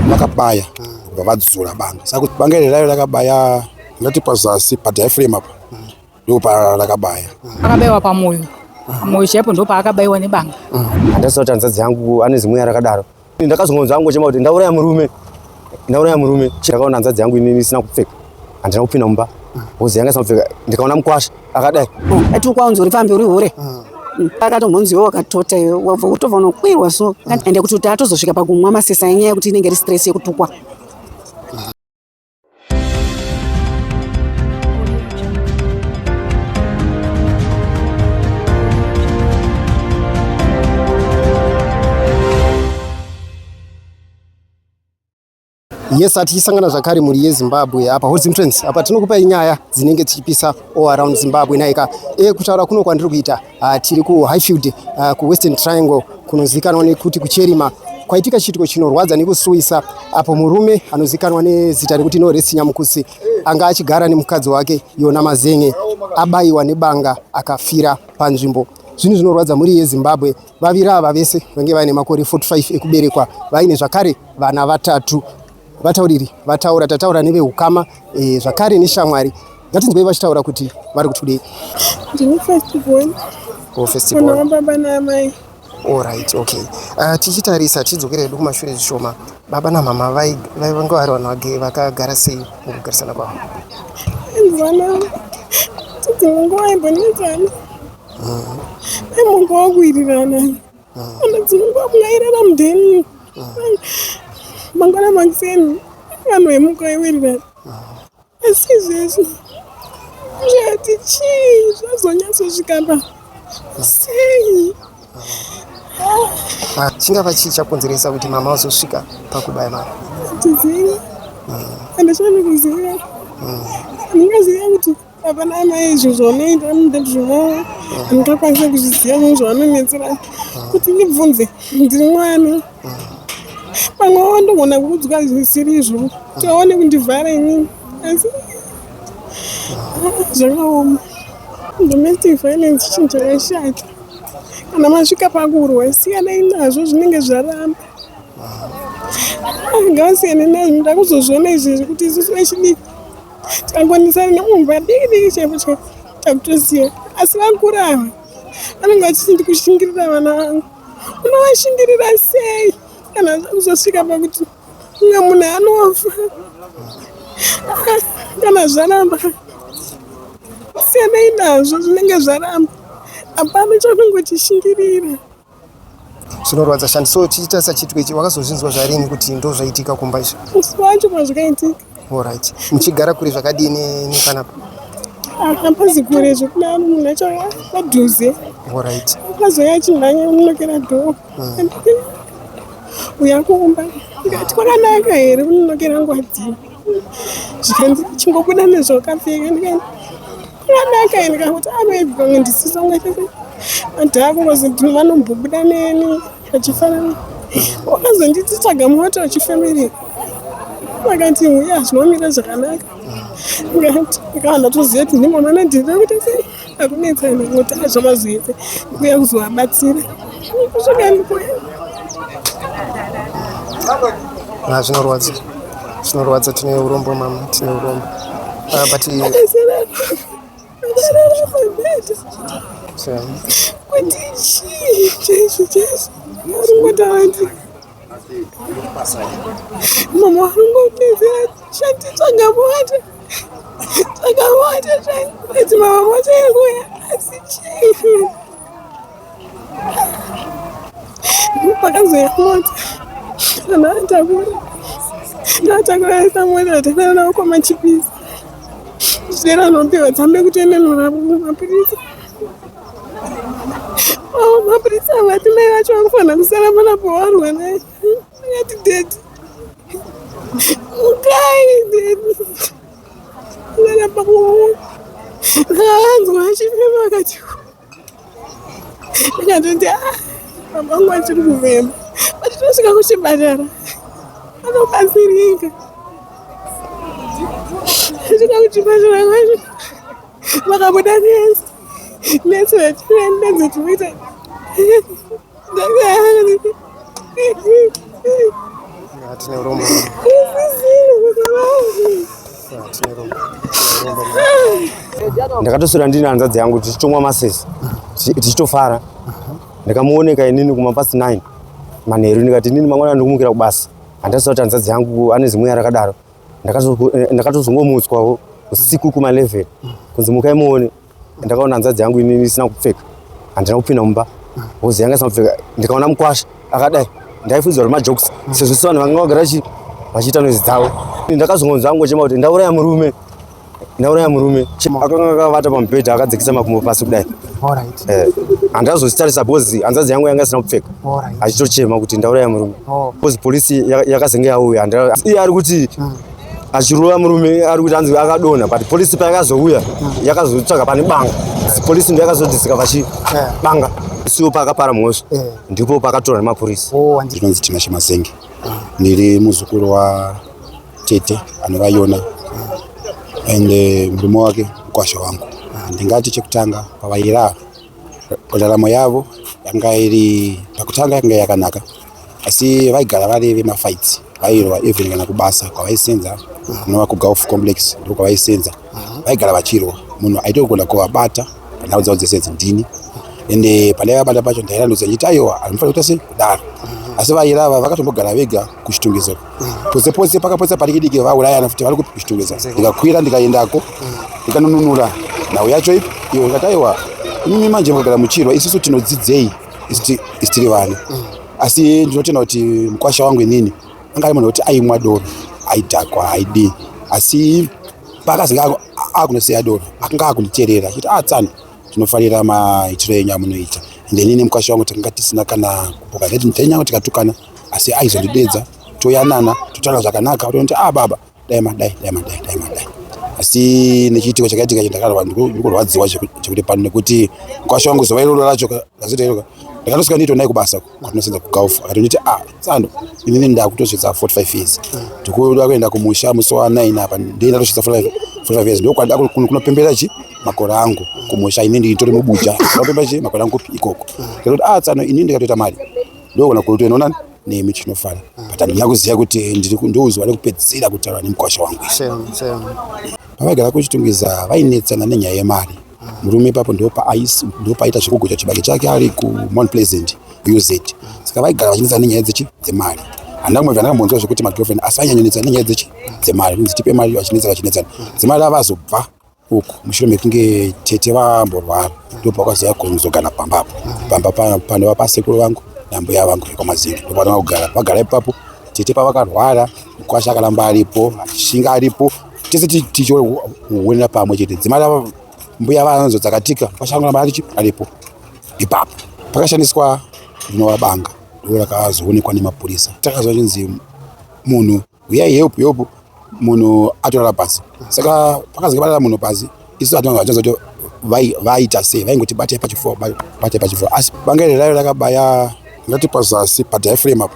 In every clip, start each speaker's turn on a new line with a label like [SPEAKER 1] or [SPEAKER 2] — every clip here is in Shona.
[SPEAKER 1] vakabaya kubva vadzura banga saka kuti banga iri rayo rakabaya ndati pazasi padiaframe apa ndipo parakabaya akabayiwa pamoyo
[SPEAKER 2] pamoyo chaipo ndo paakabaiwa nebanga handasi kuti hanzvadzi
[SPEAKER 3] yangu ane zimweya rakadaro ndakazongonzwa yangu chema kuti ndauraya murume ndauraya murume ndakaona hanzvadzi yangu inini isina kupfeka handina kupinda mumba hozi yanga isina kupfeka ndikaona mukwasha akadai ati ukwanzi uri
[SPEAKER 4] pambi uri hure akatombonziwo wakatota iwe wabva kutobva unokwirwa so ende kuti kuti atozosvika pakumwa masesa enyaya yekuti inenge iri stress yekutukwa
[SPEAKER 5] yes atichisangana zvakare mhuri yezimbabwe apa hot entrance apa tinokupai nyaya dzinenge dzichipisa all around zimbabwe naika e kutaura kuno kwandiri kuita Ah, tiri kuhighfield ah, kuwestern triangle kunozivikanwa nekuti kucherima kwaitika chiitiko chinorwadza nekusuwisa apo murume anozivikanwa nezita rekuti norest nyamukutsi anga achigara nemukadzi wake yona mazenge abayiwa nebanga akafira panzvimbo zvinhu zvinorwadza mhuri yezimbabwe vaviri ava vese vange vaine makore 45 ekuberekwa vaine zvakare vana vatatu Vatauriri vataura tataura nevehukama e, zvakare neshamwari ngatinzwei vachitaura kuti vari kuti kudei. Ndini first
[SPEAKER 6] born. Oh, first born.
[SPEAKER 5] Mwana wababa naamai.
[SPEAKER 6] Alright,
[SPEAKER 5] okay. Uh, tichitarisa tichidzokera hedu kumashure zvishoma, baba namama vaivange vari vanhu vakagara sei mukugarisana kwavo? Vana
[SPEAKER 6] tidzimwe nguva imbonetsana, mm. aimunguva kuwirirana Ana dzimwe nguva munhu airara mudheni mangwana makuseni vanhu vemuka iwirira asi izvezvi zvati chii zvazonyatsosvika pa sei ah,
[SPEAKER 5] chingava chii chakonzeresa kuti mama vazosvika pakubaya mama tizivi
[SPEAKER 6] ande chave kuziva ndingaziva kuti Hapana amai izvo zvaunoita mudati zvino ndinokwanisa kuzviziva zvinhu zvaunonetsera kuti ndibvunze ndiri mwana pamwe wo ndogona kuudzwa zvisiri izvo kuti aone kundivhara inini asi zvakaoma domestic violence chinhu chakashata kana masvika pakurwa siyanai nazvo zvinenge zvaramba ngavasiyane nazvo ndoda kuzozviona izvezvi kuti isusu vechidiki Tangonisana nemumba diki diki chaipo chaipo takutoziva asi vakuru ava vanenge vachiti ndikushingirira vana vangu unovashingirira sei kana kuzosvika pakuti umwe munhu anofa kana zvaramba siyanai nazvo zvinenge zvaramba hapana chakungotishingirira
[SPEAKER 5] zvinorwadza shandi so chiita sachitwe ichi wakazozvinzwa zvarini kuti ndo zvaitika kumba izvi wacho
[SPEAKER 6] mazvikaitika orit
[SPEAKER 5] muchigara kuri zvakadii nepanapa akapazi
[SPEAKER 6] kure zvekuda munhu acho padhuze orit
[SPEAKER 5] akazoya achinhanya
[SPEAKER 6] unokera dhoo hmm. uya kumba ndikati kwakanaka here unonokera ngwadii zvikanzi chingobuda nezvokapfeka ndikati Vanaka ini kakuti anoibvonge ndisisonge chete vantu akungozi vanombobuda neni vachifanana wakazonditi tsvaga moto wechifamily vakati uya zvinomira zvakanaka ngati kana toziva kuti ndimamana ndiri kuti sei akunetsana ngoti azvamazoite kuya kuzovabatsira
[SPEAKER 5] Ah, zvinorwadza zvinorwadza tine urombo mama tine urombo uh, but
[SPEAKER 6] mama warungotizira shati tsvangamota tsvangamota zvaiti mama motoirwea asi chii Pakazouya mota kana atakura ndaatakura aisa mota atakura navo kwamachipisa zvichera anopiwa dzambe kutenenura mapurisa oh, mapurisa vati mai vacho vakufanira kusara mana pawarwa naye akati dedi mukai dedi ndaramba kuona ndaanzwa achifema akati ndikatoti a ah, baba vangu vachiri kuvema but tinosvika kuchipatara anobatsirika svika kuchipatara kwacho vakabuda nesi nesi vatiendedze tinoita
[SPEAKER 3] ndakatoswera ndine hanzvadzi yangu tichitomwa masesi tichitofara ndakamuoneka inini kuma past 9 manheru ndikati inini mangwana ndikumukira kubasa handasati kuti hanzvadzi yangu ane zimweya rakadaro ndakatozongomutswawo usiku kuma 11 kunzi mukai muone Ndakaona hanzvadzi yangu ini isina kupfeka, handina kupinda mumba, hozi yanga isina kupfeka, ndikaona mukwasha akadai, ndaifunzwa kuti majokes mm. sezvo si vanhu vanga vagara vachiita noizi dzavo. Ndakazongonzwa angochema kuti ndauraya murume, ndauraya murume. Akanga akavata pamubhedha akadzikisa makumbo pasi kudai, eh, handina kuzozvitarisa because hanzvadzi yangu yanga isina kupfeka, achitochema kuti ndauraya murume, oh. because polisi yakazenge yauya, iye ari kuti mm. achirova murume ari kuti anzi akadonha but polisi payakazouya yakazotsvaga pane banga polisi ndo yakazodisika pachi banga isiwo pakapara mhosva eh. ndipo pakatora nemapurisa oh, ndinonzi tina
[SPEAKER 1] chemasenge ah. ndiri muzukuru wa tete anova yona ah. and eh, murume wake mukwasha wangu ah. ndingati chekutanga pavairava ndaramo yavo yanga iri pakutanga yanga yakanaka asi vaigara vari vemafights vairwa even kana kubasa kwavaisenza kunova kugolf complex ndo kwavaisenza vaigara vachirwa munhu aitogona kuvabata panhau dzavo dzese dzindini ende pandai vabata pacho ndairanudza ndichiti aiwa anofanira kuita sei kudaro asi vairava vakatombogara vega kuchitungezero pose pose pakapotsa padiki diki vaurayana futi vari kupi kuchitungezero ndikakwira ndikaendako ndikanonunura nhau yacho ipi iyo ndikati aiwa imimi manje mukagara muchirwa isusu tinodzidzei istiri vana mm. asi ndinotenda kuti mukwasha wangu inini anga ari munhu wekuti aimwa doro aidhakwa aidii asi paakazenge akunosiya doro akanga akunditerera chiti a ah, tsano tinofarira maitiro enyu amunoita ende inini mukwasha wangu takanga tisina kana kupoka zvetinyangu tikatukana asi aizondidedza toyanana totaura zvakanaka otonoti a ah, baba dai madai dai madai dai madai asi nechiitiko chakaitika ichi ndakarwa ndikurwadziwa chekuti pano nekuti mkwasha wangu zuva iroro racho razoita iroka ndakatosvika ndiito nai kubasa kwatinosenza kugauf akati nditi a ah, tsano inini ndakutosvitsa 45 years ndikuda kuenda kumusha musi wa 9 apa ndii ndatosvitsa 45 years ndokwanda kunopembera chi makore angu kumusha ini nditori mubuja ndinopembera chi makore angu ikoko ndikatoti a ah, tsano inini ndikatoita mari ndokona kutoenonani nemi tinofana but handina kuziva kuti ndouziva nekupedzisira kutaura nemukwasha wangu pavaigara kuchitungiza vainetsana nenyaya yemari murume ipapo ndopaaita zvekugocha chibage chake ari kumount pleasant uz saka vaigara vachinetsana nenyaya dzechi dzemari handina kumwe vandanga mbonzwa zvekuti magirlfriend asi vanyanyonetsana nenyaya dzechi dzemari inzi tipe mari vachinetsana vachinetsana dzemari avazobva uku mushure mekunge tete vamborwara ndopakwaziva kuzogara pamba apo pamba panova pasekuru vangu nambuya vangu vekwamazinga ndopanova kugara vagara ipapo tete pavakarwara mukwasha akaramba aripo shinga aripo tese tichionera pamwe chete dzimai ravo mbuya vanonzo dzakatika mukwasha anoramba arichi aripo ipapo pakashandiswa rinovabanga ndo rakazoonekwa nemapurisa takazwa chinzi munhu huyai help help munhu atorara pasi saka pakazenge parara munhu pasi isu hatina vachonza kuti vaita sei vaingoti batai pachifo batai pachifo asi banga iri raive rakabaya ngati pazasi padiaframe apa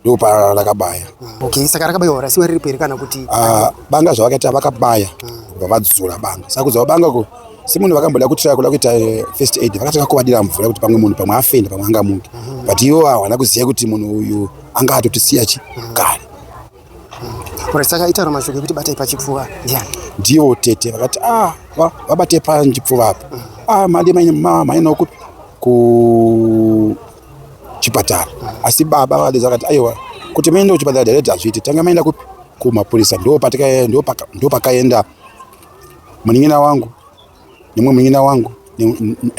[SPEAKER 1] ndo pa rakabaya okay saka rakabaiwa
[SPEAKER 5] rasiwa riripo here kana kuti ah, banga zvavakaita
[SPEAKER 1] vakabaya kubva vadzura banga saka kudzava banga ko semunhu vakamboda kutraya kuda kuita eh, first aid vakatanga kuvadira mvura kuti pamwe munhu pamwe afenda pamwe angamuke mhm. but iwo hawana kuziva kuti munhu uyu anga atotisiya chi kare
[SPEAKER 5] saka itaura mashoko ekuti batai pachipfuva ndiani ndivo tete
[SPEAKER 1] vakati ah, vabatei panjipfuva apa mm. ah, mandi mainawo kuchipatara mm. asi baba vadeza vakati aiwa kuti maenda kuchipatara direct hazviiti tanga maenda kupi kumapurisa ndo pakaenda munin'ina wangu nemwe munin'ina wangu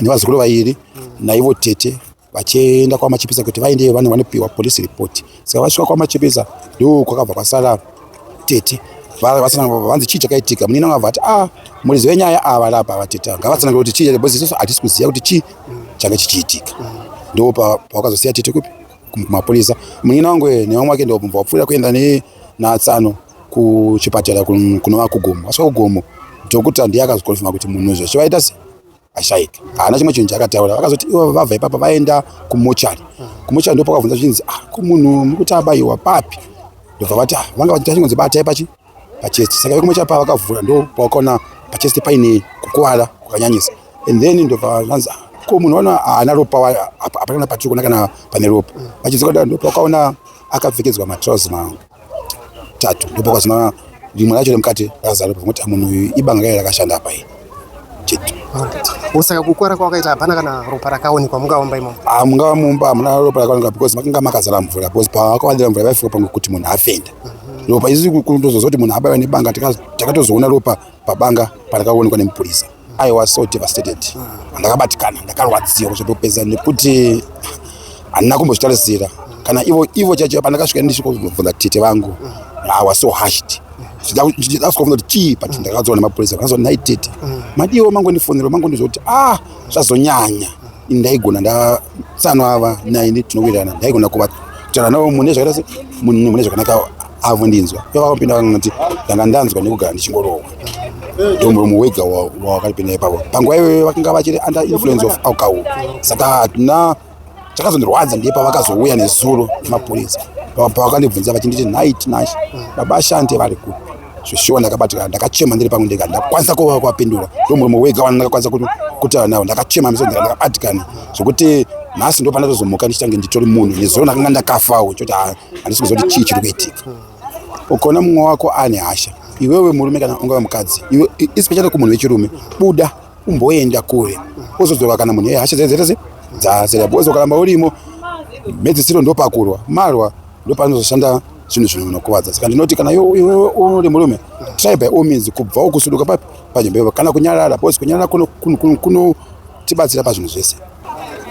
[SPEAKER 1] nevazukuru vairi mm. naivo tete vachienda kwamachipisa kuti vaende vanhu vanopiwa police report saka vasvika kwamachipisa ndo kwakabva kwasara tete vanzi chii chakaitika munini anga vati a ah, murizi wenyaya ava lapa vateta ngavatsanangire kuti chii because isu hatisi kuziva kuti chii changa chichiitika ndo pawakazosiya tete kupi kumapurisa munini wangu nevamwe wake ndobva wapfuurira kuenda natsano kuchipatara kunova kugomo asvika kugomo dhokuta ndiye akazokonfirma kuti munhu zvachivaita sei ashaika haana chimwe chinhu chaakataura vakazoti ivo vabva ipapo vaenda kumochari kumochari ndipo pakavhunza zvichinzi ah, kumunhu mukuti abayiwa papi ndobva vati ah, vanga vachita chingonzi batai pachi pachest saka vekumochari pava vakavhura ndo pawakaona pachest paine kukuvara kwakanyanyisa and then ndobva vanzi ah, ko munhu wana haana ropa hapana patiri kuona kana pane ropa vachidzoka ndo pawakaona akapfekedzwa matrouse mangu tatu ndipo kwazina rimwe racho remukati rakazara pakuti munhu uyu ibanga raye rakashanda apa iyi chete usaka
[SPEAKER 5] kukwara kwawakaita hapana kana ropa rakaonekwa mungaomba imomo ah, mungava mumba hamuna
[SPEAKER 1] ropa rakaonekwa because makanga makazara mvura because pawakawandira mvura vaifika pamwe kuti munhu afenda mhm. ropa isi kundozoza kuti munhu abaiwa nebanga takatozoona ropa pabanga parakaonekwa nemupurisa I was so devastated. Ndakabatikana, ndakarwadziwa kusvika kupedza nekuti handina kumbozvitarisira. Kana ivo ivo chacho pandakasvika ndichikubvunza tete vangu. I was so hushed. Ndakazobvunza kuti chii but ndakadzwa nemapurisa. Ndakazoti nhai tete. Madiwo mangondifonera mangondizoti ah zvazonyanya. Ndaigona ndasano ava naye tinowirirana. Ndaigona kuva kutaura navo mune zvakanaka mune zvakanaka avo ndinzwa pevakapinda vanoti ndanga ndanzwa nekugara ndichingorohwa ndomuromo wega wawakaripinda ipapo panguva iyoyo vakanga vachiri under influence of alcohol saka hatina chakazondirwadza ndiye pavakazouya nezuro nemapurisa pavakandibvunza vachinditi nhai tinashe baba ashante vari kupi zveshuwa ndakabatikana ndakachema ndiri pangu ndega ndakwanisa kuva kwapindura ndomuromo wega wana ndakakwanisa kutaura navo ndakachema meso ndega ndakabatikana zvekuti nhasi ndopanda tozomuka ndichange nditori munhu nezuro ndakanga ndakafawo choti handisi kuziva kuti chii chiri kuitika ukaona mumwe wako ane hasha iwewe murume kana ungava mukadzi iwe especially kumunhu wechirume buda umboenda kure wozodzoka kana munhu hasha dzaizaitase dzasera because ukaramba urimo mhedzisiro ndopakurwa marwa ndopanozoshanda zvinhu zvinhu zvinokuvadza saka ndinoti kana iwewe uri murume try by all means kubvawo kusuduka papi panzvimbo ivo kana kunyarara because kunyarara kunotibatsira pazvinhu zvese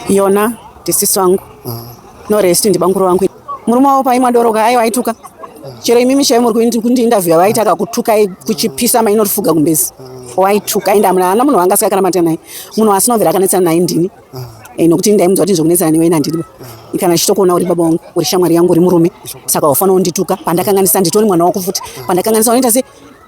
[SPEAKER 1] yona
[SPEAKER 4] tisiso angu ah. No rest ndibanguro wangu. Murume wavo paimwa doro ka aiwa aituka. Chero imimi chaivo muri kundi interview vaita kakutuka kuchipisa mainorifuga kumbezi. Waituka ende amuna ana munhu wanga asikakana mata naye. Munhu asina mvera akanetsana naye ndini. Eh, nokuti ndaimudza kuti nzokunetsana newe nandiriba kana chitokuona uri baba wangu uri shamwari yangu uri murume saka wafanira kundituka pandakanganisa nditori mwana wako futi pandakanganisa unoita se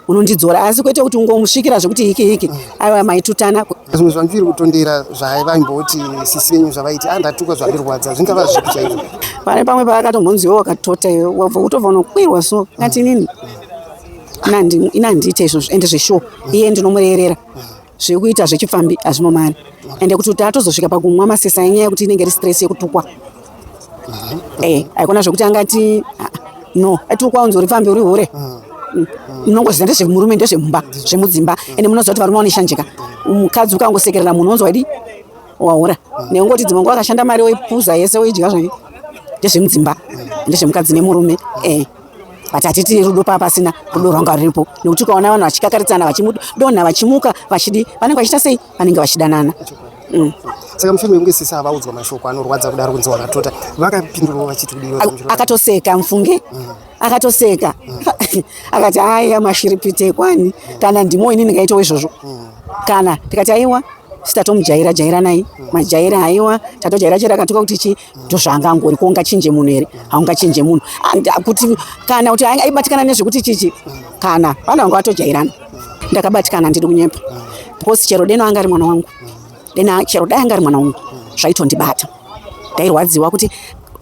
[SPEAKER 4] unondidzora asi kwete kuti ungomusvikira zvekuti hiki hiki mm. aiwa maitutana zvimwe zvandiri
[SPEAKER 5] kutondera zvavaimboti sisi venyu zvavaiti andatukwa ah, zvandirwadza zvingava zvipi chaizvo pane pamwe
[SPEAKER 4] paakatombonziwo wakatota iwe wabva kutobva unokwirwa so ngati nini inandiita izvozvo ende zveshuwa iye ndinomurerera mm. zviri kuita zvechipfambi hazvimo mari ende kuti kuti atozosvika pakumwa masesa enyaya yekuti inenge iri stress yekutukwa eh, haikona zvekuti angati ah, no atukwa unzi uri pfambi uri hure ah. mm. munongoziva ndezvemurume ndezvemumba zvemudzimba ah. ende munoziva kuti varume vanoshanjika mukadzi ukangosekerera munhu onzwa idi wahura neungoti dzimwe nguva akashanda mari oipuza yese oidya zvake ndezvemudzimba ndezvemukadzi nemurume eh. but hatiti rudo paa pasina rudo rwanga ruripo nekuti ukaona vanhu vachikakaridzana vachidonha vachimuka vachidi vanenge vachiita sei vanenge vachidanana mm.
[SPEAKER 5] saka mufimi wekunge sisi avaudzwa mashoko anorwadza kudaro kunzi wakatota vakapindurwa vachiti akatoseka mufunge
[SPEAKER 4] mm. akatoseka mm. akati haya mashiripite kwani kana ndimo ini ndingaitawo izvozvo kana tikati aiwa sitatomujaira jairanai majaira aiwa tatojaira chera akatuka kuti chii ndozvaanga angori kuungachinje munhu here haungachinje munhu kuti kana kuti aibatikana nezvekuti chichi kana vanhu vanga vatojairana ndakabatikana ndiri kunyepa because chero deno anga ari mwana wangu dena chero dai anga ari mwana wangu zvaitondibata ndairwadziwa kuti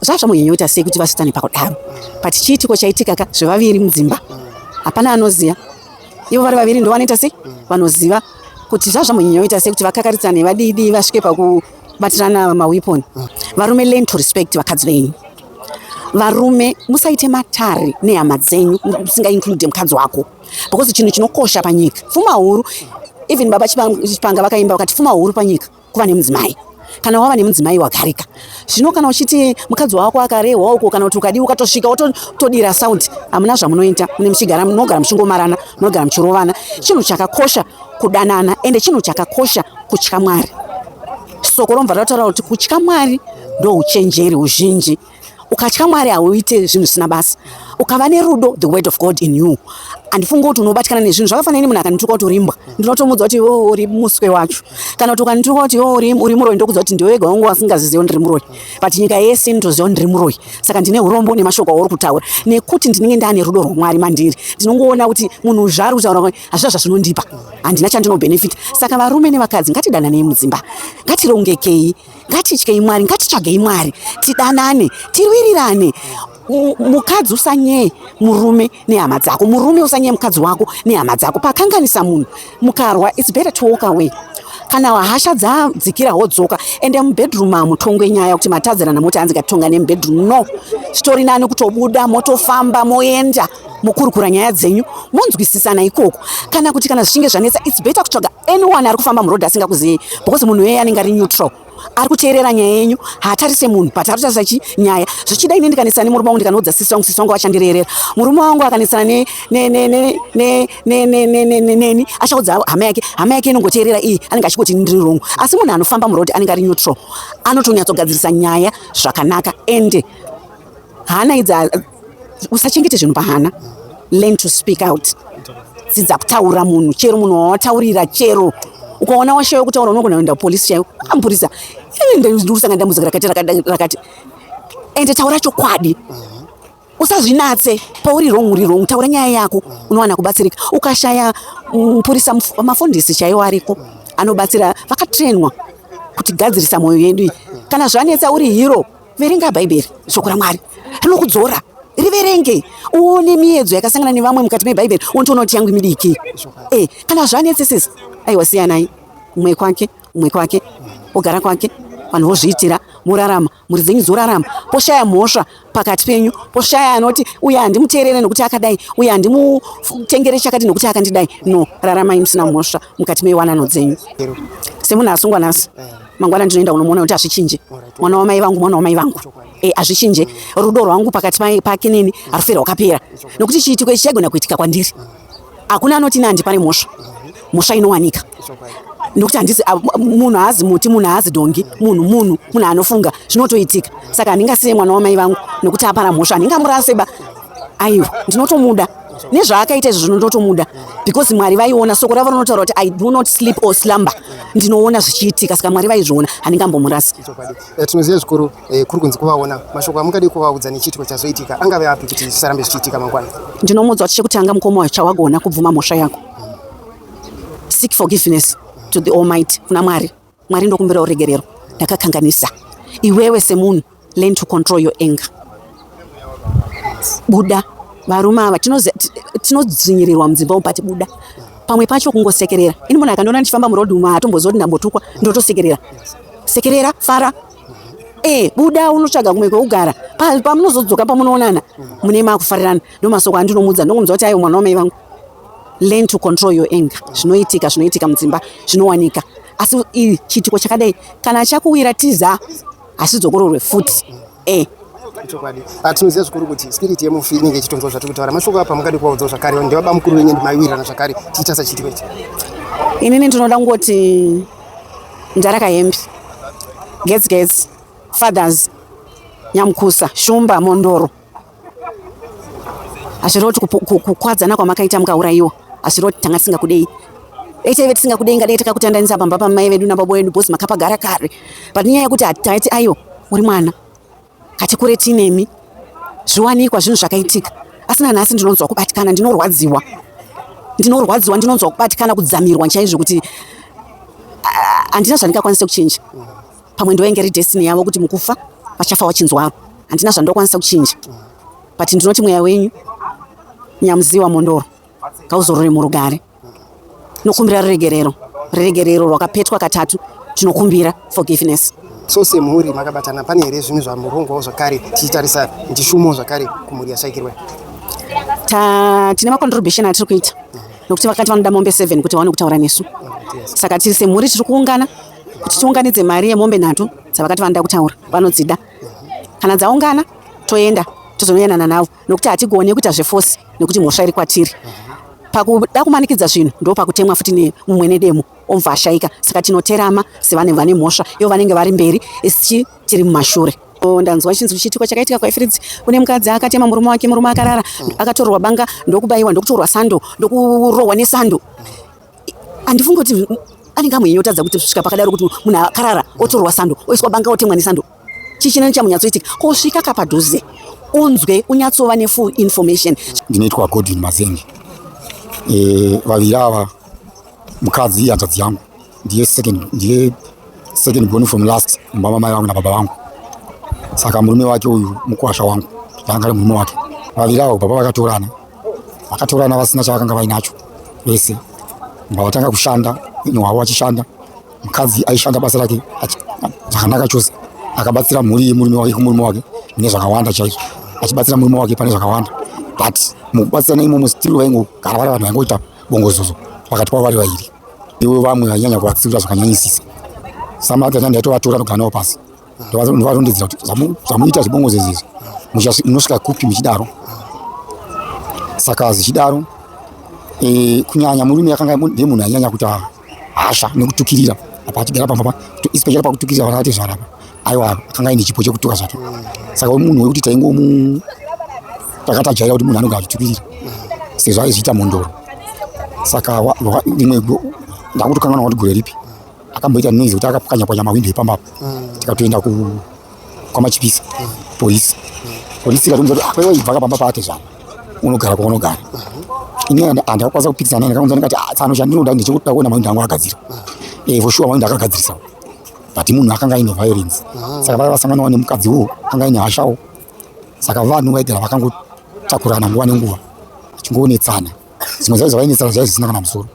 [SPEAKER 4] zvazvamunyanyota sei kuti vasitane pakudaro but chiitiko chaitika ka zvevaviri mudzimba hapana anoziva ivo vari vaviri ndovanoita sei vanoziva kuti zvazvamunyanyota sei kuti vakakaritsane vadidi vasvike paku batirana maweapon varume learn to respect vakadzi venyu varume musaite matare nehama dzenyu musingainclude mukadzi wako because chinhu chinokosha panyika pfuma huru even baba chipanga vakaimba vakati pfuma huru panyika kuva nemudzimai kana wava nemudzimai wagarika zvino kana uchiti mukadzi wako akarehwa uko kana kuti ukadii ukatosvika wotodira sound hamuna zvamunoita mune muchigara munogara muchingomarana munogara muchirovana chinhu chakakosha kudanana ende chinhu chakakosha kutya mwari soko romva ratotaura kuti kutya mwari ndouchenjeri uzhinji ukatya mwari hauite zvinhu zvisina basa ukava nerudo the word of god in you handifunga kuti unobatikana nezvinhu zvakafanira ini munhu akanituka kuti urimbwa ndinotomudza kuti iwe oh, uri muswe wacho kana kuti ukanituka kuti iwe oh, uri muroyi ndokudza kuti ndiwe wega wangu wasingaziziva ndiri muroyi but nyika yese inotoziva ndiri muroyi saka ndine urombo nemashoko auri kutaura nekuti ndinenge ndane rudo rwamwari mandiri ndinongoona kuti munhu zvaari kutaura hazvina zvazvinondipa handina chandinobenefita saka varume nevakadzi ngatidananei mudzimba ngatirongekei ngatityei mwari ngatitsvagei mwari tidanane tirwirirane mukadzi usanyeye murume nehama dzako murume usanyeye mukadzi wako nehama dzako pakanganisa munhu mukarwa its better to walk away kana hasha dzadzikira wodzoka ende mubedroom hamutongwe nyaya kuti matadzirana moti hanzi ngatitonga nemubedroom no zvitori nani kutobuda motofamba moenda mokurukura nyaya dzenyu monzwisisana ikoko kana kuti kana zvichinge zvanetsa its better kutsvaga anyone ari kufamba muroad asingakuziyei because munhu iyeye anenge ari neutral ari kuteerera nyaya yenyu haatarise munhu but ari kutarisa chi nyaya zvichida ine ndikanetsana nemurume wangu ndikanoudza sisi wangu sisi wangu vachandireerera murume wangu akanetsana neni achaudza hama yake hama yake inongoteerera iyi anenge achikoti ndiri wrong asi munhu anofamba muroad anenge ari neutral anotonyatsogadziririsa nyaya zvakanaka ende hana idzi usachengete zvinhu pahana learn to speak out dzidza kutaura munhu chero munhu wawataurira chero ukaona washaiwa kutaura unogona kuenda kupolisi chaiwo amupurisa ndikusanga dambudziko rakati rakati ende taura chokwadi usazvinatse pauri rong uri rong taura nyaya yako unowana kubatsirika ukashaya mupurisa mafundisi chaiwo ariko anobatsira vakatrainwa kutigadzirisa mwoyo yedu iyi kana zvanetsa uri hero Verenga Bhaibheri, Shoko raMwari rinokudzora. Riverenge uone miedzo yakasangana nevamwe mukati meBhaibheri, unotoona kuti yangu midiki. Eh, kana zvanetsesesa, aiwa siyanai, umwe kwake, umwe kwake, ogara kwake, vanhu vozviitira morarama mhuri dzenyu dzorarama poshaya mhosva pakati penyu poshaya anoti uye handimuteerere nokuti akadai uye handimutengere chakati nokuti akandidai no raramai musina mhosva mukati mewanano dzenyu semunhu asungwa nhasi mangwana ndinoenda kunomuona kuti hazvichinje mwana wamai vangu mwana wamai vangu e, hazvichinje rudo rwangu pakati pake neni harufere rwakapera nokuti chiitiko ichi chaigona kuitika kwandiri hakuna anoti ne handipane mhosva mhosva inowanika nokuti handisi munhu haazi muti munhu haazi dongi munhu munhu munhu anofunga zvinotoitika saka handingasiye mwana wamai vangu nokuti apara mhosva handingamuraseba aiwa ndinotomuda nezvaakaita izvo zvino ndotomuda because mwari vaiona soko ravo rinotaura kuti i do not sleep or slumber ndinoona zvichiitika saka mwari vaizviona handingambomurasi eh, tinoziva
[SPEAKER 5] zvikuru eh, kuri kunzi kuvaona mashoko amungadi kuvaudza nechiitiko chazoitika angave api kuti zvisarambe zvichiitika mangwana ndinomuudza kuti chekutanga
[SPEAKER 4] mukoma chawagona kubvuma mhosva yako seek forgiveness to the almighty kuna mwari Mwari ndokumbira uregerero ndakakanganisa iwewe semunhu learn to control your anger buda varume ava tinodzvinyirirwa mudzimba umu pati buda pamwe pacho kungosekerera ini munhu akandiona ndichifamba muroad umu haatomboziva kuti ndambotukwa ndotosekerera sekerera fara e buda unotsvaga kumwe kweugara pamunozodzoka pamunoonana mune makufarirana ndomasoko andinomudza ndokunzwa kuti ayo mwana wamai vangu learn to control your anger zvinoitika zvinoitika mudzimba zvinowanika asi chiitiko chakadai kana chakuwira tiza asi dzokororwe futi eh chokwadi atinoziva
[SPEAKER 5] ah, zvikuru kuti spirit yemufi inenge ichitonzwa zvatiri kutaura mashoko apa mukadi kuvaudzawo zvakare ndevaba mukuru wenyu ndimaiwirirana zvakare tiita sachiitiko ichi inini
[SPEAKER 4] ndinoda kungoti ndaraka hembe gets gets fathers nyamukusa shumba mondoro hazviroti kukwadzana kwamakaita mukaurayiwa hazviroti tanga tisingakudei dai taive tisingakudei ngadai takakutandanisa pamba pamai vedu nababa vedu bhozi makapagara kare but nyaya yekuti hataiti aiwa uri mwana kati kure tinemi zviwanikwa zvinhu zvakaitika asi nanhasi ndinonzwa kubatikana ndinorwadziwa ndinorwadziwa ndinonzwa kubatikana kudzamirwa chaizvo kuti handina zvandingakwanisa kuchinja pamwe ndoenge ri destiny yavo kuti mukufa vachafa wachinzwaro handina zvandokwanisa kuchinja but ndinoti mweya wenyu nyamuziwa mondoro ngauzorore murugare tinokumbira ruregerero ruregerero rwakapetwa katatu tinokumbira forgiveness so semhuri
[SPEAKER 5] makabatana pane here zvimwe zvamurongwawo zvakare tichitarisa ndishumo zvakare kumhuri yashaikirwa
[SPEAKER 4] tine macontribution atiri kuita nokuti vakati vanoda mombe seven kuti vaone kutaura nesu saka tiri semhuri tiri kuungana kuti tiunganidze mari yemombe nhatu dzavakati vanoda kutaura vanodzida kana dzaungana toenda tozonoyanana navo nokuti hatigone kuita zvefosi nekuti mhosva iri kwatiri pakuda kumanikidza zvinhu ndo pakutemwa futi nemumwe nedemo omva ashaika saka tinoterama sevane vane mhosva ivo vanenge vari mberi isi tiri mumashure ndanzwa chinzwi chiitiko chakaitika kwaifridzi kune mukadzi akatema murume wake murume akarara akatorwa banga ndokubayiwa ndokutorwa sando ndokurohwa nesando handifungi kuti anenge amwenye otadza kuti svika pakadaro kuti munhu akarara otorwa sando oiswa banga otemwa nesando chii chinani chamunyatsoitika kosvika kapadhuze unzwe unyatsova nefull information ndinoitwa godwin
[SPEAKER 1] mazenge e, vaviri ava mukadzi ihanzvadzi yangu ndiye second ndiye second born from last mumba mamai vangu nababa vangu saka murume wake uyu mukwasha wangu ndanga ari murume wake vaviri ava baba vakatorana vakatorana vasina chavakanga vainacho vese mba vatanga kushanda ini hwavo vachishanda mukadzi aishanda basa rake zvakanaka chose akabatsira mhuri yemurume wake kumurume wake mune zvakawanda chaizvo achibatsira murume wake pane zvakawanda but mukubatsirana imomo stiri vaingogara vari vanhu vaingoita bongozozo pakati kwavo vari vairi ivo vamwe vainyanya kuvatsiura zvakanyanyisisa samati atandi aitovatora nogara navo pasi ndovatondidzira kuti zvamuita zvibongo zezizvi munosvika kupi muchidaro saka zvichidaro e, kunyanya murume akanga ndiye munhu anyanya kuita hasha nekutukirira apa achigara pamba pa especially pakutukirira vana vati zvarapa aiwa akanga aine chipo chekutuka zvacho saka munhu wekuti taingomu takatajaira kuti munhu anonga achitukirira sezvo aizviita mhondoro saka rimwe ndakutokanganwa kuti gore ripi akamboita noise kuti akapwanyapwanya mahwindo epamba apa mm. tikatoenda kwamachipisa mm. polisi mm. polisi ikatomuza kuti apewa ah, ibva kapamba pake zvavo unogara kwaunogara mm-hmm. ini handakakwanisa kupikisana naye ndakamuza ndikati ah, tsano chandinoda ndechekuda kuona mahwindo angu akagadzira mm. eh, for sure mahwindo akagadzirisavo but munhu akanga aine violence mm. saka vaya vasanganawo nemukadzi wo akanga aine hashawo saka vanhu vaigara vakangotakurana nguva nenguva achingoonetsana zvimwe zvacho zvavainetsana zvaiva zvisina kana musoro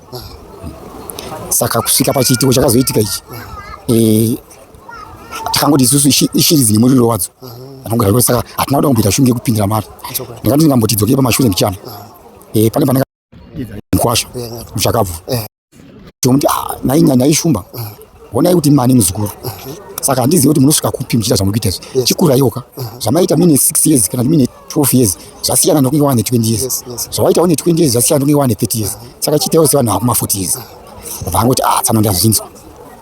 [SPEAKER 1] saka kusvika pachiitiko chakazoitika ichi eh, takangoti isusu ishiri dzine muriro wadzo anongoraiwa saka hatina kuda kumboita shungu yekupindira mari ndingati ndingambotidzokei pamashure ndichana eh, pane pane mkwasha muchakabvu Ndomuti ah, nhai nyanya ishumba. Honai kuti mani muzukuru. Saka handizivi kuti munosvika kupi muchiita zvamuri kuita izvi. Chikuraiwoka. Zvamaita mine 6 years kana mine 12 years zvasiyana nokunge wane 20 years. Zvawaita wane 20 years zvasiyana nokunge wane 30 years. Saka chiitaiwo sevanhu vakuma 40 years. Vakangoti ah tsano ndazvinzwa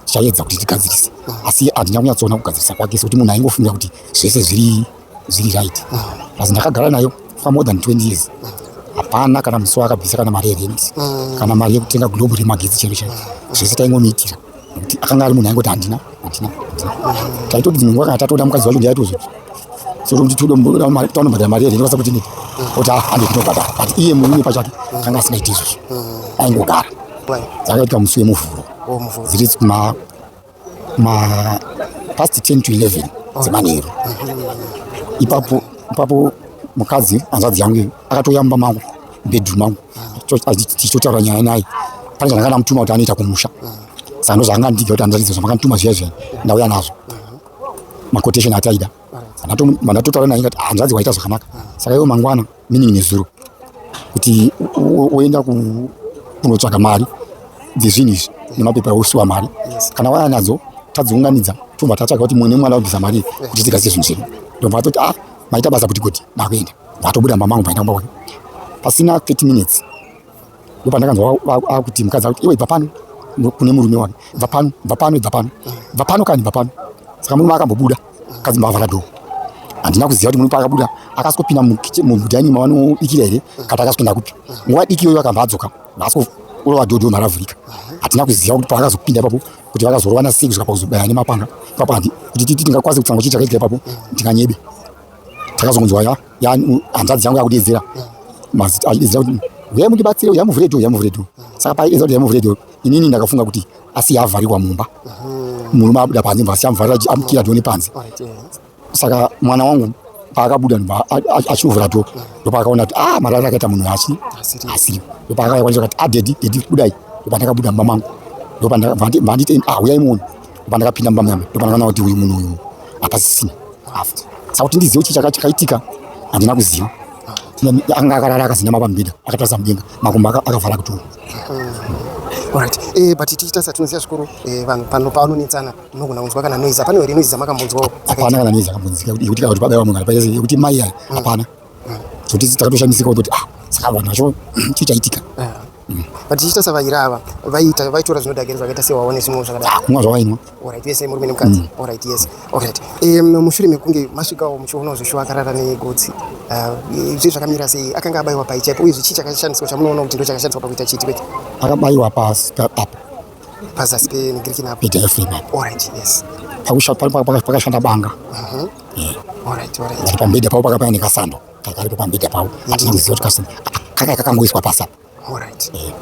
[SPEAKER 1] tichaedza kuti tigadzirise asi handina kunyatsoona kugadzirisa kwake sekuti munhu aingofungira kuti zvese zviri zviri right plus ndakagara nayo for more than 20 years hapana kana musi waakabvisa kana mari yerent mm. kana mari yekutenga globe remagetsi chero chai zvese taingomiitira nekuti akanga ari munhu aingoti handina handina taitoti dzimwe nguva kana tatoda mukadzi wacho ndiaitozo sokuti tinotombadara mari yerent kwasa kuti neti kuti hande tinobhadara but iye murume pachake akanga asingaiti izvozvo mm. aingogara dzakaitwa musi wemuvhuro oh, dziri ma past 10 to 11 dzemanheru ipapo ipapo mukadzi hanzvadzi yangu akatouya mumba mangu bedroom mangu tichitotaura nyaya naye pane zvandanga ndamutuma kuti anoita kumusha saka ndo zvanga ndiga kuti anzvadzi zvamakandituma zviya zviya ndauya nazvo makotation ataida mandatotaura naye ngati hanzvadzi waita zvakanaka saka iwo mangwana meaning nezuro kuti woenda kunotsvaga mari dzezvinhu izvi nemapepa osiwa mari kana waya nadzo tadziunganidza tobva tatsvaga kuti mune mwana wabvisa mari kuti tigadzise zvinhu zvedu ndobva atoti a ah, maita basa kuti kuti ndakuenda vatobuda mama angu vaenda kumbaona pasina 30 minutes ndopandakanzwa akuti mukadzi akuti iwe ibva pano kune murume wake ibva pano ibva pano ibva pano ibva pano kani ibva pano saka murume akambobuda mukadzi mbavhara dho handina kuziva kuti murume paakabuda akasokopinda mudhaini mavanobikira here kati akasokenda kupi nguva diki iyoyo akamba adzoka vaasokurova dhodho maravhurika hatina kuziva kuti paakazopinda ipapo kuti vakazorovana sei kusvika pakuzobaya nemapanga ipapo kuti tingakwanise kutanga kuti chakaitira ipapo ndinganyebe takazongonzwa ya hanzvadzi yangu yakudeedzera mazita achideedzera kuti huya mundibatsire huya muvhure dho huya muvhure dho saka paiedza kuti huya muvhure dho inini ndakafunga kuti asi yavharikwa mumba murume abuda panze mva siyamuvharira amukira dho nepanze saka mwana wangu paakabuda achinovhura dho ndopaakaona kuti ah marari akaita munhu achi asiri ndopaakakwanisa kuti adedi ah, dedi kudai ndopandakabuda mumba mangu ndopandanditi ah huyai muone pandakapinda mumba muyama ndopandakaona kuti uyu munhu uyu hapasisina after saka kuti ndizive chii chaka chakaitika handina kuziva anga akarara akazinama pamubhedha akatarisa mudenga makumbo akavhara kutoo hmm.
[SPEAKER 5] Alright. Eh, but tichita sa tinoziva zvikuru eh, vanhu pano paanonetsana munogona kunzwa kana noise hapana here noise dzamakamunzwawo hapana kana noise akambonzika yekuti
[SPEAKER 1] kuti pabaiwa munhu kana yekuti mai aya hmm. hapana hmm. so tisi takatoshamisika kuti ah saka vanhu vacho chii chaitika ah. But
[SPEAKER 5] tichiita savaira ava vaiita vaitora zvinodhakiridza vakaita sewaone zvimwe zvakadai. Ah, kumwa zvawainwa. Alright,
[SPEAKER 1] yes, murume nemukadzi.
[SPEAKER 5] Mm. Alright, yes. Alright. Eh, mushure mekunge masvikawo muchionawo zveshuwa akarara negotsi. Ah, eh, zve zvakamira sei? Akanga abaiwa pai chaipo uye zvichi chakashandiswa chamunoona kuti ndochakashandiswa pakuita chiti kwete. Akabaiwa pasi
[SPEAKER 1] apa. Pazasi
[SPEAKER 5] penigiriki napo. Ita efema. Alright,
[SPEAKER 1] yes.
[SPEAKER 5] Pakushata
[SPEAKER 1] pakashanda banga. Mhm.
[SPEAKER 5] Mm yeah. Alright, alright. Pambeda papo
[SPEAKER 1] pakapaya nekasando. kakaripo pambedha pavo hatina kuziva kuti kasina kakaya kakangoiswa pasi apa eh,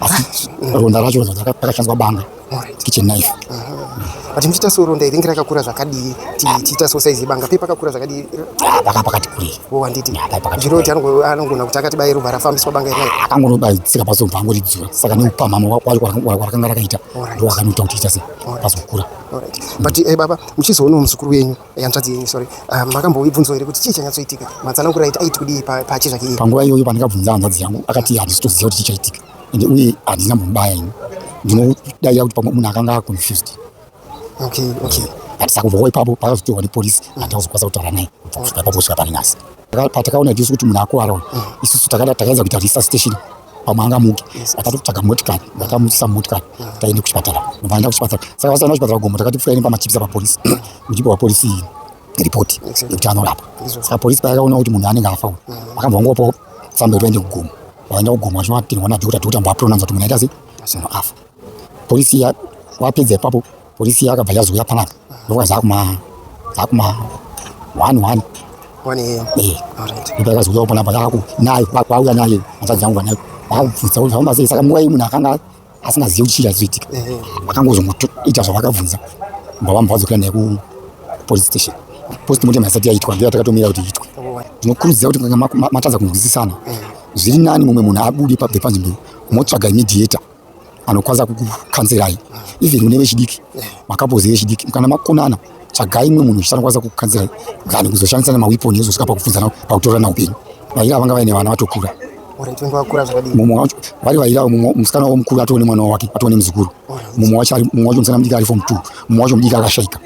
[SPEAKER 1] asi ronda racho vazonzi rakashandiswa banga kitchen knife but muchiita
[SPEAKER 5] so ronda iri ngirakakura zvakadii tichiita so saizi yebanga pei pakakura zvakadii ah, paka pakati kurei
[SPEAKER 1] wo wanditi
[SPEAKER 5] ndiro kuti anogona kuti akati bai roba rafambiswa banga iri akangonobaitsika pazobva
[SPEAKER 1] angoridzura saka neupamhama warakanga rakaita ndo wakanoita kuti ita sei pazokura but eh,
[SPEAKER 5] baba muchizoonawo muzukuru wenyu Hanzvadzi yenyu sorry, um, makamboibvunzwa here kuti chii chanyatsoitika? Matsanangura aiti aiti kudii pa- pachi zvake iye? panguva iyoyo pandakabvunza hanzvadzi
[SPEAKER 1] yangu akati handisi toziva kuti chichaitika ende uye handina mbomubaya ini ndinodavira kuti pamwe munhu akanga aconfused Okay,
[SPEAKER 5] okay. but
[SPEAKER 1] sakubvawo ipapo paakazotorwa nepolisi handina kuzokwanisa kutaura naye kubva kusvika ipapo kusvika pari nhasi patakaona tisu kuti munhu akuvara uyu isusu takaedza kuita resustation pamwe angamuke akati kutsvaga motikari vakamuisa motikari taende kuchipatara vaenda kuchipatara saka vasaenda kuchipatara gombo takati pfuyaini pamachipisa papolisi muchipa papolisi iyi ripoti yekuti anorapa saka polisi payakaona kuti munhu anenge afa uyu vakabva vangopawo tsamba yekuti vaende kugomo vaenda kugomo vachinoatirwa nadhokota dhokota mbaapuronanza kuti munhu aita sei munhu afa polisi iya wapedza ipapo Polisi yakabva yazouya panapa ndokuva zakuma zakuma one one ndopayakazouyawo panapa yaku nayo kwauya naye hanzvadzi yangu vanayo vakabvunza kuti zvafamba sei saka nguva iyi munhu akanga asingazivi kuti chii chazoitika vakangozongoita zvavakabvunza mbava vambva vadzokera naye kupolice station post mortem haisati yaitwa ndoya takatomira kuti iitwe ndinokurudzira kuti kana matadza kunzwisisana zviri nani mumwe munhu abude pabve panzvimbo motsvaga imediator anokwanisa kukukanzirai even une vechidiki makapozi vechidiki kana makonana tsvagai imwe munhu chisanokwanisa kukukanzirai kana kuzoshandisa nemawiponi ezosvika pakubvunzana pakutorana upenyu vaira vanga vaine vana vatokura mumwe wacho vari vaira musikana wavo mukuru atove nemwana wake atove nemuzukuru mumwe wacho mumwe wacho musikana mudiki ari fom two mumwe wacho mudiki akashaika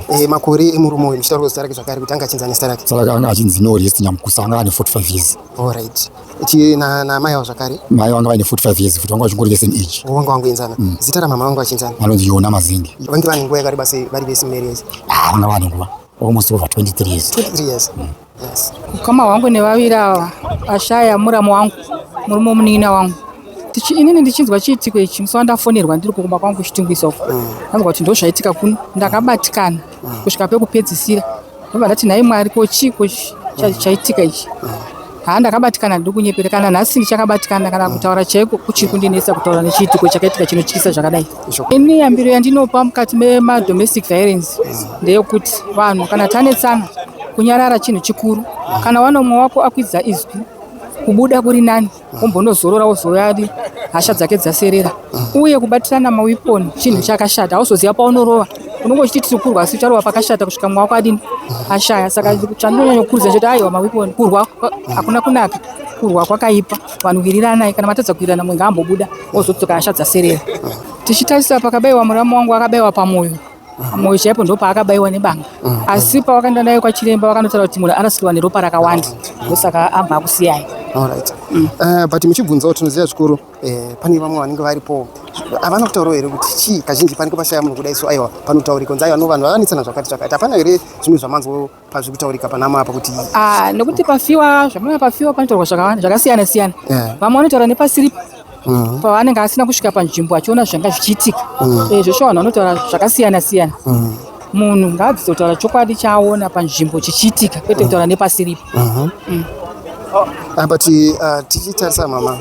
[SPEAKER 1] Eh,
[SPEAKER 5] makore emurume uyu muchitaura zita rake zvakare kuti anga achinzi ane zita rake saka anga achinzi norest
[SPEAKER 1] nyamukusa anga ane 45 years allright
[SPEAKER 5] namai avo zvakare mai vanga vaine 45
[SPEAKER 1] years futi vanga vachingori vese age oh, vanga vangoenzana mm.
[SPEAKER 5] zita ramama vanga vachinzana vanonzi yona mazingi
[SPEAKER 1] vange vane nguva yakareba sei
[SPEAKER 5] vari vese mumarriage ah, vanga vane nguva
[SPEAKER 1] almost over 23 years 23 years mm.
[SPEAKER 5] Ukama hwangu
[SPEAKER 2] nevaviri ava ashaya muramu wangu murume womunin'ina wangu tichi inini ndichinzwa chiitiko ichi musi wandafonerwa ndiri kukumba kwangu kuchitungwiza uko mm. ndanzwa kuti ndo zvaitika kuno ndakabatikana mm. kusvika pekupedzisira ndobva ndati nhai mwari ko chii ko mm. chaitika ichi haa ndakabatikana ndiri kunyepera kana nhasi ndichakabatikana kana kutaura chaiko kuchiri kundinetsa kutaura nechiitiko chakaitika chinotyisa zvakadai Ini yambiro yandinopa mukati memadomestic violence ndeyokuti vanhu kana tanetsana kunyarara chinhu chikuru. Kana wana umwe wako akwidza izwi kubuda kuri nani wombonozorora wozoyadi hasha dzake dzaserera uye kubatirana mawiponi chinhu chakashata hauzoziva paunorova unenge uchiti tiri kurwa asi ucharova pakashata kusvika mwa wako adini ashaya saka chandinonyanya kukurudzira chete aiwa mawiponi kurwa hakuna kunaka kurwa kwakaipa vanhu wiriranai kana matadza kuwirirana mumwe ngaambobuda ozodzoka hasha dzaserera tichitarisa pakabaiwa muramu wangu akabaiwa pamwoyo mwoyo chaipo ndo paakabaiwa nebanga asi pawakaenda naye kwachiremba vakanotaura kuti munhu arasikirwa neropa rakawanda ndosaka abva akusiyai Alright. Mm. Uh,
[SPEAKER 5] but muchibvunzawo tinoziva zvikuru eh, pane vamwe vanenge varipo havana kutaurawo here kuti chii kazhinji panenge pashaya munhu kudai so aiwa panotaurika nzi aiwa no vanhu vakanetsana zvakati zvakati hapana here zvimwe zvamanzwa pazviri kutaurika panamo apa kuti ah, nekuti pafiwa
[SPEAKER 2] zvamana pafiwa panotaurwa zvakawanda zvakasiyana siyana eh. vamwe vanotaura nepasiri mm. pavanenge asina kusvika panzvimbo achiona zvanga zvichiitika mm. eh, zvesho vanhu vanotaura zvakasiyana siyana mm. munhu ngaadzidze kutaura chokwadi chaaona panzvimbo chichiitika kwete kutaura nepasiripo mm-hmm.
[SPEAKER 5] apa ah, tichitarisa mama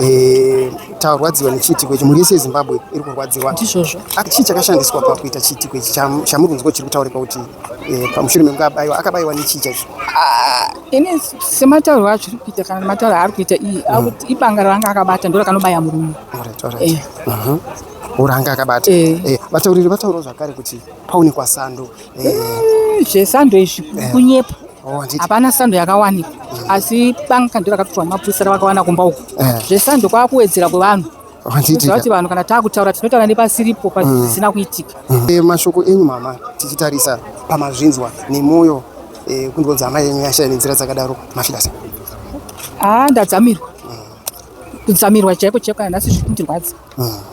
[SPEAKER 5] eh, tarwadziwa nechiitiko ichi mhuri yese yezimbabwe iri kurwadziwa ndizvozvo chii
[SPEAKER 2] chakashandiswa
[SPEAKER 5] pakuita chiitiko ichi chamuri kunzwa chiri kutaurika kuti Eh, pamushure mekunge abaiwa akabaiwa nechii chaizvo ah, ini
[SPEAKER 2] sematauriro acho iri kuita kana matauriro aari kuita iyi mm. akuti ibanga raanga akabata ndo rakanobaya murume eh. mhm.
[SPEAKER 5] uranga akabata eh. vatauriri vataurawo zvakare kuti paonekwa sando
[SPEAKER 2] zvesando izvi kunyepa oh, hapana sando yakawanikwa mm. asi banga ndo rakatotorwa mapurisa ravakawana kumba uku zvesando kwakuwedzera kwevanhu Zvati vanhu kana takutaura tinotaura nepasiripo pasina mm. kuitika. Mm. Eh, mashoko enyu
[SPEAKER 5] mama tichitarisa pamazvinzwa nemwoyo eh, kunzwa kuti hama yenyu yashaya nenzira dzakadaro mafira sei? Ah, ndadzamirwa mm. kudzamirwa chaiko chaiko kana nhasi zviri kundirwadza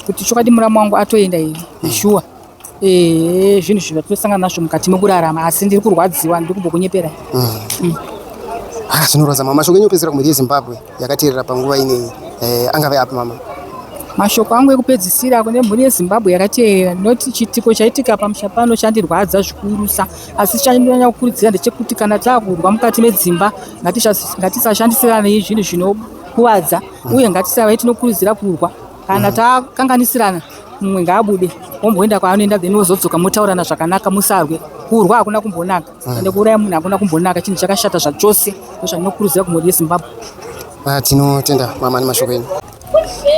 [SPEAKER 5] kuti chokwadi muramu wangu atoenda here shuwa ehe zvinhu zvinhu zvatinasangana nazvo mukati mekurarama asi ndiri kurwadziwa ndiri kumbokunyepera Ah, zvinorwadza mama mashoko enyu opedzisira kumhuri yezimbabwe yakateerera panguva inei eh, angave api mama mashoko angu
[SPEAKER 2] ekupedzisira kune mhuri yezimbabwe yakateerera ndinoti chiitiko chaitika pamusha pano chandirwadza zvikurusa asi chandinonyanya kukurudzira ndechekuti kana taakurwa mukati medzimba ngatisha- ngatisashandisiranei zvinhu zvinokuvadza uye ngatisavai tinokurudzira kurwa kana takanganisirana mumwe ngaabude womboenda kwaanoenda then wozodzoka motaurana zvakanaka musarwe kurwa hakuna kumbonaka ah. ende kuuraya munhu hakuna kumbonaka chinhu chakashata zvachose ndozvandinokurudzira kumhuri yezimbabwe ah, tinotenda
[SPEAKER 5] mama nemashoko enyu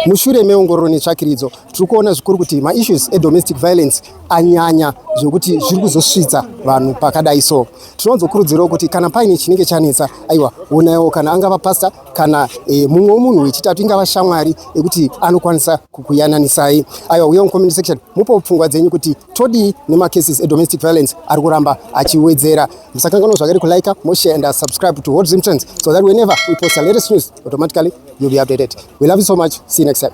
[SPEAKER 5] mushure meongororo netsvakiridzo tiri kuona zvikuru kuti maissues edomestic violence anyanya zvekuti zviri kuzosvitsa vanhu pakadai so tinozokurudzirawo kuti kana paine chinenge chanetsa aiwa onaiwo kana angava pasta kana e, mumwe wemunhu wechitatu ingava shamwari yekuti anokwanisa kukuyananisai aiwa uye mucomment section mupo pfungwa dzenyu kuti todii nemacases edomestic violence ari kuramba achiwedzera musakanganwa zvakare kulike moshe and subscribe to hot zimtrends so that whenever we post a latest news automatically you'll be updated we love you so much see you next time